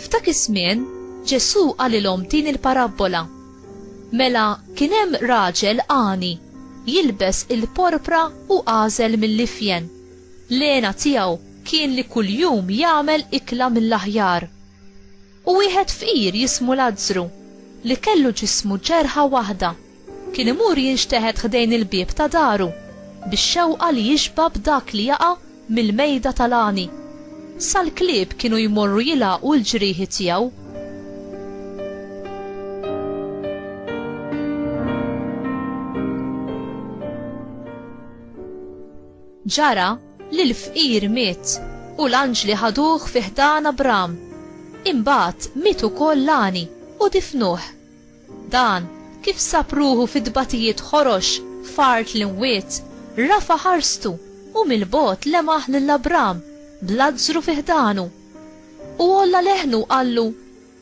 F'dak iż-żmien, Ġesù qalilhom din il-parabbola. Mela kien hemm raġel għani jilbes il-porpra u għażel mill-ifjen. Lena tiegħu kien li kuljum jagħmel ikla mill-aħjar. U wieħed fqir jismu Lazzru, li kellu ġismu ġerħa waħda, kien imur jinxteħet ħdejn il-bieb ta' daru, bix-xewqa li jixba' b'dak li jaqa' mill-mejda tal-għani, sal-klieb kienu jmorru jilgħaqu l-ġrieħi tiegħu. Ġara, li l-fqir miet u l-anġli ħaduh fi ħdan Abram. Imbagħad miet ukoll l-għani u difnuh. Dan, kif sab ruħu fi tbatijiet ħorox f'art l-imwiet, rafa' ħarstu u mill-bogħod lemaħ lil Abram b'Lazzru fi ħdanu. U għolla leħnu u qallu,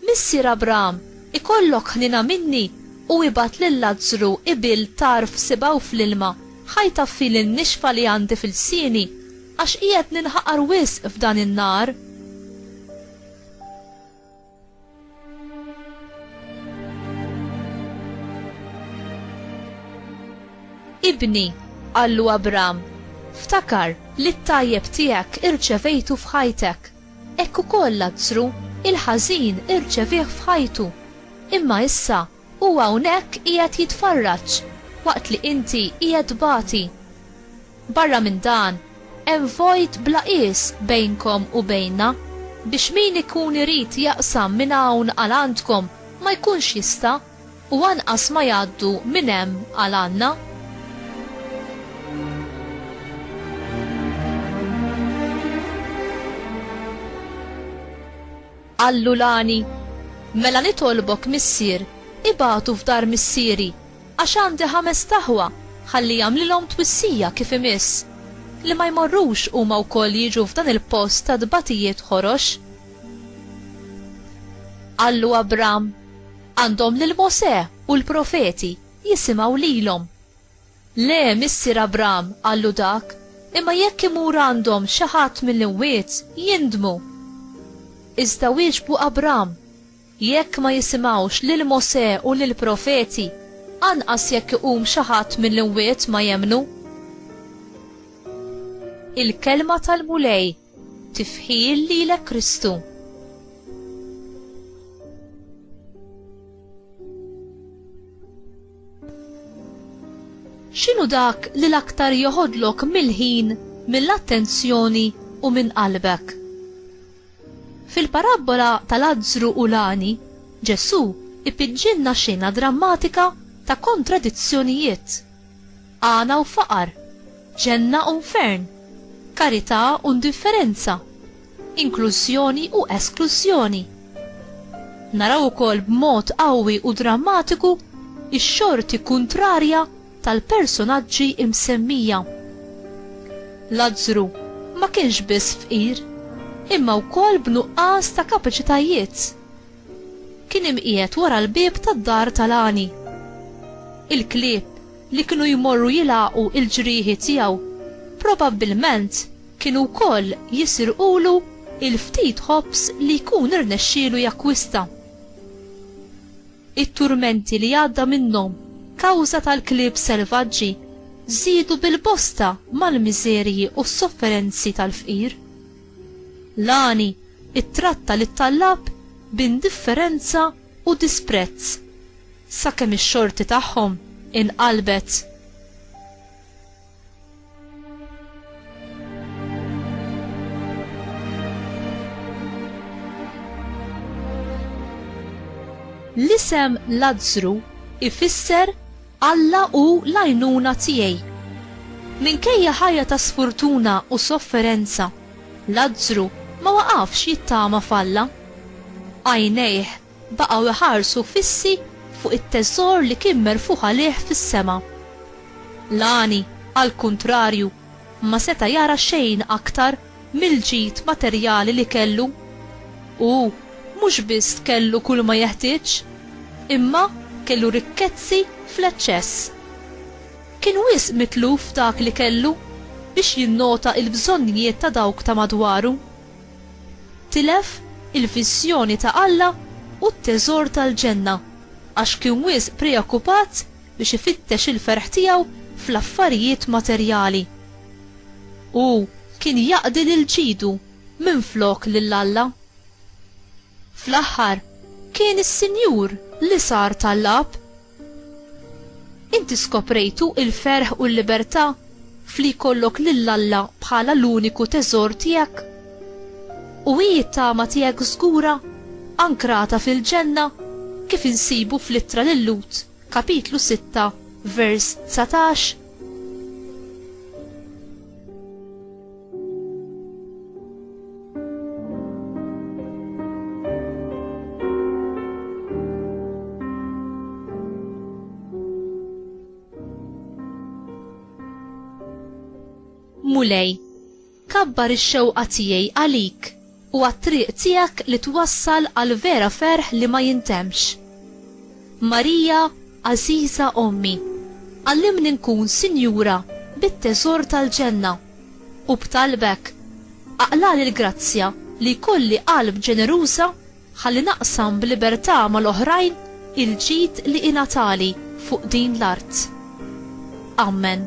Missier Abraham, ikollok ħniena minni u ibgħat lil Lazzru ibil tarf sibgħu fl-ilma, ħa jtaffi lin-nixfa li għandi fil-lsieni, għax qiegħed ninħaqar wisq f'dan in-nar. Ibni, qallu Abraham, ftakar li t-tajjeb tiegħek irċevejtu f'ħajtek. Hekk ukoll Lazzru, il-ħażin, irċevieh f'ħajtu. Imma issa, hu hawnhekk qiegħed jitfarraġ, waqt li inti qiegħed tbati. Barra minn dan, hemm vojt bla qies bejnkom u bejnna, biex min ikun irid jaqsam minn hawn għal għandkom ma jkunx jista'. U anqas ma jgħaddu minn hemm għal għandna. Qallu l-għani, Mela nitolbok, missier, ibagħtu f'dar missieri, għax għandi ħamest aħwa, ħalli jagħmlilhom twissija kif imiss, li ma jmorrux huma wkoll jiġu f'dan il-post ta' tbatijiet ħorox. Qallu Abram, Għandhom lil Mosè u l-profeti, jisimgħu lilhom. Le, missier Abram, qallu dak, imma jekk imur għandhom xi ħadd mill-imwiet, jindmu. Iżda wieġbu Abram, Jekk ma jisimgħux lil Mosè u lill-profeti, anqas jekk iqum xi ħadd mill-imwiet ma jemmnu. Il-Kelma tal-Mulej. Tifħir lilek Kristu. X'inhu dak li l-aktar joħodlok mill-ħin, mill-attenzjoni u minn qalbek? Fil-parabbola tal-azzru u l-għani, Ġesù ipiġġilna xena drammatika ta' kontradizzjonijiet. Għana u faqar, ġenna u nfern, karità u ndifferenza, inklużjoni u esklużjoni. Naraw ukoll b'mod qawwi u drammatiku x-xorti kuntrarja tal-personaġġi imsemmija. Lazzru ma kienx biss fqir, imma wkoll b'nuqqas ta' kapaċitajiet. Kien imqiegħed wara l-bieb tad-dar tal-għani. Il-klieb li kienu jmorru jilgħaqu l-ġrieħi tiegħu, probabbilment kienu wkoll jisirqulu l-ftit ħobż li jkun irnexxielu jakkwista. It-turmenti li għadda minnhom kawża tal-klieb selvaġġi żiedu bil-bosta mal-miżerji u s-sofferenzi tal-fqir. Lani ttratta lit-tallab b'indifferenza u disprezz sakemm ix-xorti tagħhom inqalbet. L-isem Lazzru ifisser Alla u l-għajnuna tiegħi. Minkejja ħajja ta' sfortuna u sofferenza, Lazzru ma waqafx jittama f'Alla. Għajnejh baqgħu jħarsu fissi fuq it-teżor li kien merfugħ għalih fis-sema. L-għani, għall-kuntrarju, ma seta' jara xejn aktar mill-ġid materjali li kellu. Hu mhux biss kellu kulma jeħtieġ, imma kellu rikkezzi fl-eċċess. Kien wisq mitluf f'dak li kellu biex jinnota l-bżonnijiet ta' dawk ta' madwaru. Tilef il-viżjoni ta' Alla u t-teżor tal-ġenna għax kien wisq preokkupat biex ifittex il-ferħ tiegħu fl-affarijiet materjali. Hu kien jaqdi lil ġidu minflok lil Alla. Fl-aħħar, kien is-Sinjur li sar ta' l-Ab. Inti skoprejtu il-ferħ u l-libertà f'li jkollok lil Alla bħala l-uniku teżor tiegħek? U hi t-tama tiegħek żgura, ankrata fil-Ġenna, kif insibu fl-Ittra lil Lhud, kapitlu 6, vers 19? Mulej, kabbar ix-xewqa tiegħi għalik. u għat-triq tiegħek li twassal għal vera ferħ li ma jintemmx. Marija, għażiża Ommi, għallimni nkun sinjura bit-teżor tal-ġenna, u b'talbek, aqlagħli l-grazzja li jkolli qalb ġeneruża ħalli naqsam b'libertà mal-oħrajn il-ġid li ingħatali fuq din l-art. Ammen.